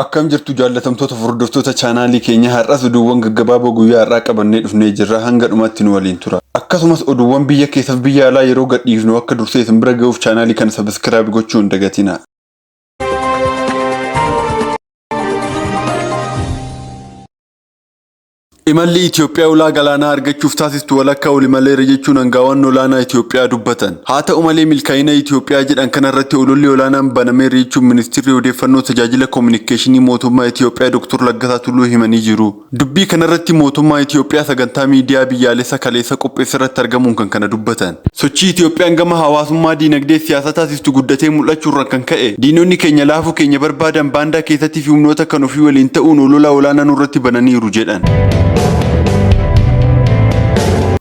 Akkam jirtu jaallatamtoota hordoftoota chaanaalii keenya har'as oduuwwan gaggabaaboo guyyaa har'aa qabannee dhufnee jirra hanga dhumaatti nu waliin tura. Akkasumas oduuwwan biyya keessaaf biyya alaa yeroo gadhiifnu akka dursee isin bira ga'uuf chaanaalii kana sabiskiraayib gochuu hin dagatina. Imalli Itoophiyaa ulaa galaanaa argachuuf taasistu walakkaa oli maleera jechuun aangaawaan olaanaa Itoophiyaa dubbatan. Haa ta'u malee milkaa'ina Itoophiyaa jedhan kanarratti ololli olaanaan banameera jechuun ministirri odeeffannoo tajaajila koominikeeshinii mootummaa Itoophiyaa Dr. Laggasaa Tulluu himanii jiru. Dubbii kanarratti mootummaa Itiyoophiyaa sagantaa miidiyaa biyyaalessa kaleessa qopheesserratti argamuun kan kana dubbatan. Sochii Itiyoophiyaan gama hawaasummaa, diinagdeef siyaasa taasistu guddatee mul'achuurran kan ka'e diinonni keenya laafuu keenya barbaadan baandaa keessattifi humnoota kan ofii waliin ta'uun olola olaanaa nurratti bananiiru jedhan.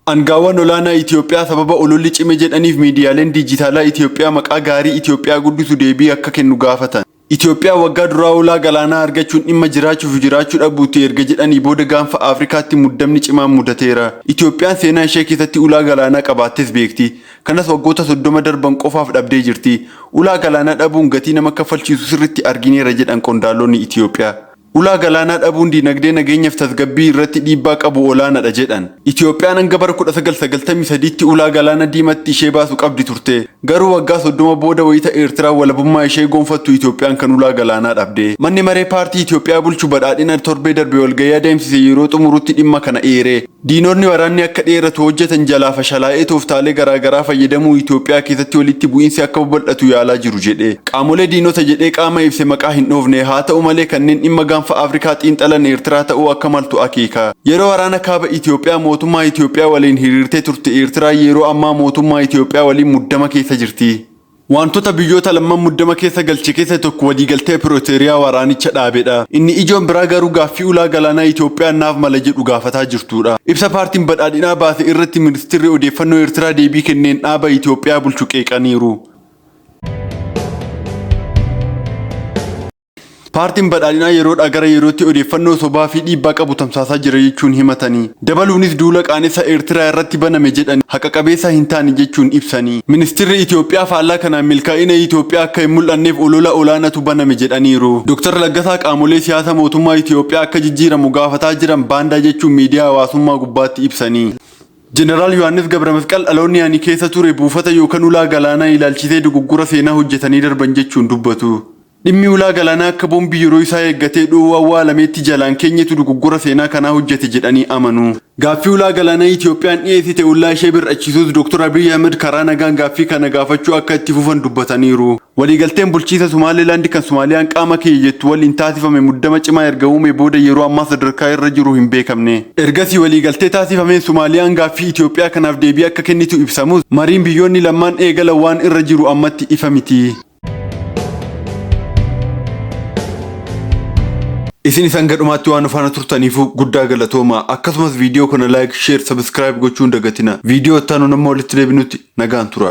Angaawaan olaanaa Itiyoophiyaa sababa ololli cime jedhaniif miidiyaaleen diijitaalaa Itiyoophiyaa maqaa gaarii Itiyoophiyaa guddisu deebii akka kennu gaafatan. Itoophiyaan waggaa duraa ulaa galaanaa argachuun dhimma jiraachuufi jiraachuu dhabuuti erga jedhanii booda gaanfa Afrikaatti muddamni cimaan mudateera. Itoophiyaan seenaa ishee keessatti ulaa galaanaa qabaattees beekti. Kanas waggoota 30 darban qofaaf dhabdee jirti. Ulaa galaanaa dhabuun gatii nama kaffalchiisu sirriitti argineera jedhan qondaalonni Itoophiyaa. Ulaa galaanaa dhabuun diinagdee nageenyaf tasgabbii irratti dhiibbaa qabu olaanadha jedhan. Itiyoophiyaan hanga bara kudha sagal sagaltamii sadiitti ulaa galaana diimatti ishee baasu qabdi turte. Garuu waggaa soddoma booda wayita Eertiraan walabummaa ishee goonfattu Itiyoophiyaan kan ulaa galaanaa dhabde. Manni maree paartii Itiyoophiyaa bulchu Badhaadhina torbee darbe walgahii adeemsise yeroo xumurutti dhimma kana eere. Diinotni waraanni akka dheeratu hojjetan jalaa fashalaa'ee tooftaalee garaa garaa fayyadamuun Itoophiyaa keessatti walitti bu'iinsi akka babal'atu yaalaa jiru jedhe. Qaamolee diinota jedhee qaama ibse maqaa hin dhoofne. Haata'u malee kanneen dhimma Gaanfa Afrikaa xiinxalan Eertiraa ta'uu akka maltu akeeka. Yeroo waraana Kaaba Itoophiyaa mootummaa Itoophiyaa waliin hiriirtee turte Eertiraan yeroo ammaa mootummaa Itoophiyaa waliin muddama keessa jirti. Waantota biyyoota lamman muddama keessa galche keessa tokko waliigaltee Pirooteeriyaa waraanicha dhaabedha. Inni ijoon biraa garuu gaaffii ulaa galaanaa Itoophiyaan naaf mala jedhu gaafataa jirtuudha. Ibsa Paartiin Badhaadhinaa baase irratti Ministirri Odeeffannoo Eertiraa deebii kenneen dhaaba Itoophiyaa bulchu qeeqaniiru. Paartiin Badhaadhinaa yeroodhaa gara yerootti odeeffannoo sobaa fi dhiibbaa qabu tamsaasaa jira jechuun himatanii, dabaluunis duula qaanessa Eertiraa irratti baname jedhani haqa qabeessaa hin taane jechuun ibsanii, Ministirri Itoophiyaa faallaa kanaan milkaa'ina Itoophiyaa akka hin mul'anneef olola olaanatu baname jedhaniiru. Dr. Laggasaa qaamolee siyaasa mootummaa Itoophiyaa akka jijjiiramu gaafataa jiran baandaa jechuun miidiyaa hawaasummaa gubbaatti ibsanii, Jeneraal Yohaannis Gabramasqal dhaloonni ani keessa ture buufata yookan ulaa galaanaa ilaalchisee dogoggora seenaa hojjetanii darban jechuun dubbatu. Dhimmi ulaa galaanaa akka boombii yeroo isaa eeggatee dho'uu awwaalameetti jalaan keenyatu dogoggora seenaa kanaa hojjete jedhanii amanu. Gaaffii ulaa galaanaa Itiyoophiyaan dhiyeessite ollaa ishee bir'achiisuus Doktar Abiy Ahimad karaa nagaan gaaffii kana gaafachuu akka itti fufan dubbataniiru. Waliigalteen bulchiinsa Sumaaleelaandi kan Sumaaliyaan qaama kiyya jettu waliin taasifame muddama cimaa erga uumee booda yeroo ammaa sadarkaa irra jiru hin beekamne. Ergasii waliigaltee taasifameen Sumaaliyaan gaaffii Itiyoophiyaa kanaaf deebii akka kennitu ibsamus, mariin biyyoonni lammaan eegalan waan irra jiru ammatti ifa miti. Isin isaan gadhumaatti waan faana turtaniifuu guddaa galatooma. Akkasumas viidiyoo kana like, share, subscribe gochuun dagatina. Viidiyoo itti aanuun amma walitti deebinutti nagaan tura.